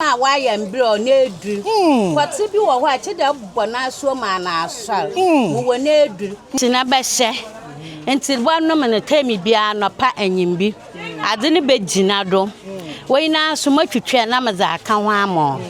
Ɔbaa a ɔayɛ mber a ɔn'edur. Pɔtse bi wɔ hɔ a, kyedɛ ebobɔ n'asowa mu an'asoar mu wɔ n'edur. Ntsi na bɛhyɛ, ntsi bɔnom no term biara anɔpa enyimbi, adze no begyina do. W'enyi no ara so m'atwitwɛɛ na medze akã ho ama wo,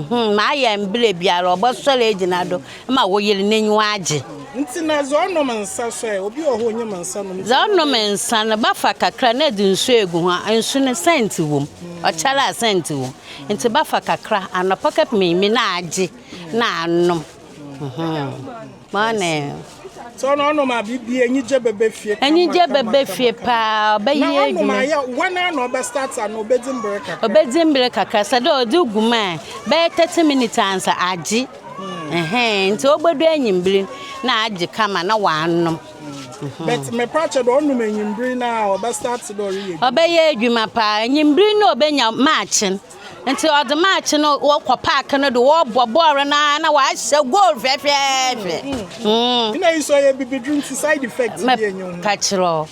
mm-hmm, m'ayɛ mber biara ɔbɔsoɛr egyina do. ma wo yer n'enyiwa agye. Ntsi na dza ɔnom nsa so ɛ, obi wɔ hɔ a onnyim nsa nom ntsi Dza ɔnom ɔnom ɛ. nsa no, bɛfa kakra na edze nsu egu ho, nsu no sɛnt wɔ mu, ɔkyɛr a sɛnt wɔ mu, ntsi bɛfa kakra anapa kɛpem ewimber na agye na anom. Morning. Ntsi ɔno ɔnom a biribi, enyigye bɛba fie kama kama kama. Enyigye bɛba fie paa, ɔbɛyɛ edwuma. Na ɔnom a, woana ara na ɔbɛ start ano, obedzi mber kakra? Obedzi mber kakra, sɛ dɛ ɔdze gu mu ɛ, bɛyɛ thirty minutes ansa agye. Ɛhɛn, ntsi obodu ewimbir no na aagye kama na ɔanom. But me pa kyɛ dɛ ɔnom ewimbir no a ɔbɛ start dɛ ɔreyɛ edwuma. Ɔbɛyɛ edwuma paa, ewimbir no na obenya maakye no, ntsi ɔdze maakye no wɔkɔ park no do wɔbɔ bɔɔl no ara na ɔahyɛ goal fɛfɛɛfɛ. Nna iyi so ɔyɛ ebibidur ntsi side effect biara nnyi ho. Mɛka kyerɛ wo.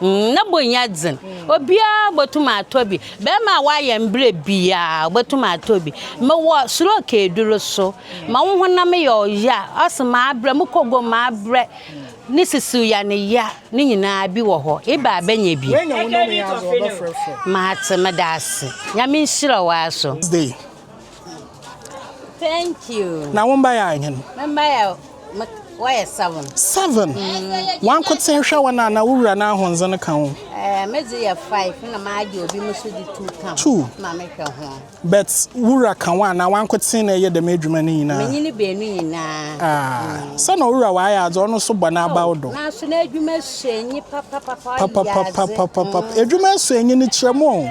Mm, na bo nyɛ dzen. Obiara botum atɔ bi. Bɛrima a ɔayɛ mbrɛ biara, obotum atɔ bi. Mowɔ stroke edur so. Ma wo honam yɛ ɔya, ɔse mabrɛ, mo kogon mabrɛ, ne sisiw ya ne ya, ne nyinaa bi wɔ hɔ. Ebɛ a bɛnyɛ bi? Matse, meda ase. Nyame nhyira wo ara so. Day. Thank you. Na wo mba yɛ ahen? Me mba yɛ wɔyɛ seven. Seven. Mm. Wɔn nkotsee hwɛ wɔn a na wo wura n'ahondze no ka ho. Ɛɛ eh, me dze yɛ five na maa gye obi mo so di two ka ho. Two. Ma me hwɛ ho. But wura ka wɔn a na wɔn nkotsee na ɛyɛ dɛm adwuma no nyinaa. Menyi ne beenu nyinaa. Ah. Mm. Sɛ na owura wɔayɛ adze ɔno so bɔ n'abaw do. Na so na adwuma so enyi papapapa. Papapapa. Adwuma so enyi no kyerɛ mu o.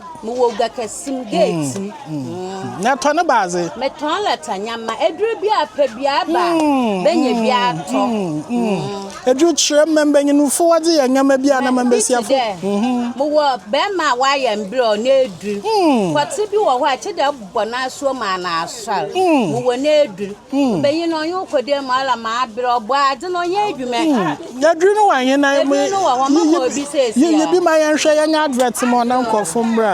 Mowɔ gua kɛse mu, geeti mu. Mm, mm. Na ɛtɔ ne baadze. Metɔn lɛta nyama, edur bi a pɛ bi a ba, mm, bɛnyɛ bi mm, atɔ. Mm, mm. mm. Edur kyerɛ mma mbanyinfo wɔdze yɛ nneɛma bi a na ma mbesiafo. Mowɔ bɛrima a wɔayɛ mbrɛ ɔno edur. Mm. Pɔtse bi wɔ hɔ a ɛkyɛ dɛ Wɔ n'asuo maa no asɔr, wowɔ n'edur, ɔbanyin no ɔnye wo kɔ dee mu ara ma aber a ɔbɔ adze no ɔnyɛ edwuma yi. Edur no wɔ hen? Edur no wɔ hɔ, mɛma obi siesie hɔ. Yiyi bi ma yɛnhwɛ, yɛnyɛ advert ma wo na nkorɔfo mbra.